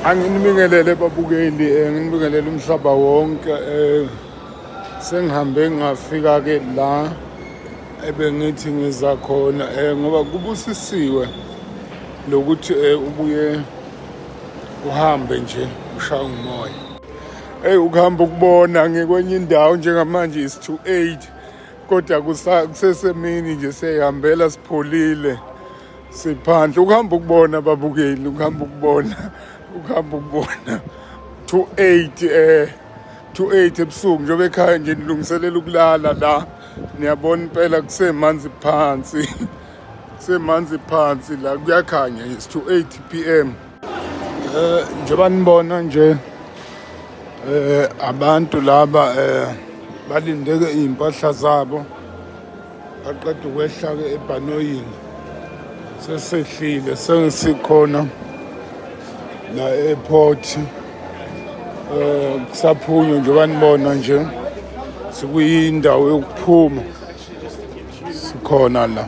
anginibingelele babukeli eh, nginibingelele umhlaba wonke eh, sengihambe ngafika-ke la ebengithi ngiza khona eh, ngoba kubusisiwe lokuthi ubuye uhambe nje ushaya umoya eyi ukuhamba ukubona ngikwenye indawo njengamanje is to eight kodwa kusesemini nje siyayihambela sipholile siphandle ukuhamba ukubona ababukeli ukuhamba ukubona ukuhamba ukubona to eight eh to eight ebusuku njengoba ekhaya nje nilungiselela ukulala la niyabona impela kusemanzi phansi kusemanzi phansi la kuyakhanya it's to eight p m Eh njengoba nibona nje eh abantu laba eh balindeke izimpahla zabo baqeda ukwehla ke ebhanoyini sesehlile sengisikhona la airport eh kusaphunywa njengoba nibona nje sikuyindawo yokuphuma sikhona la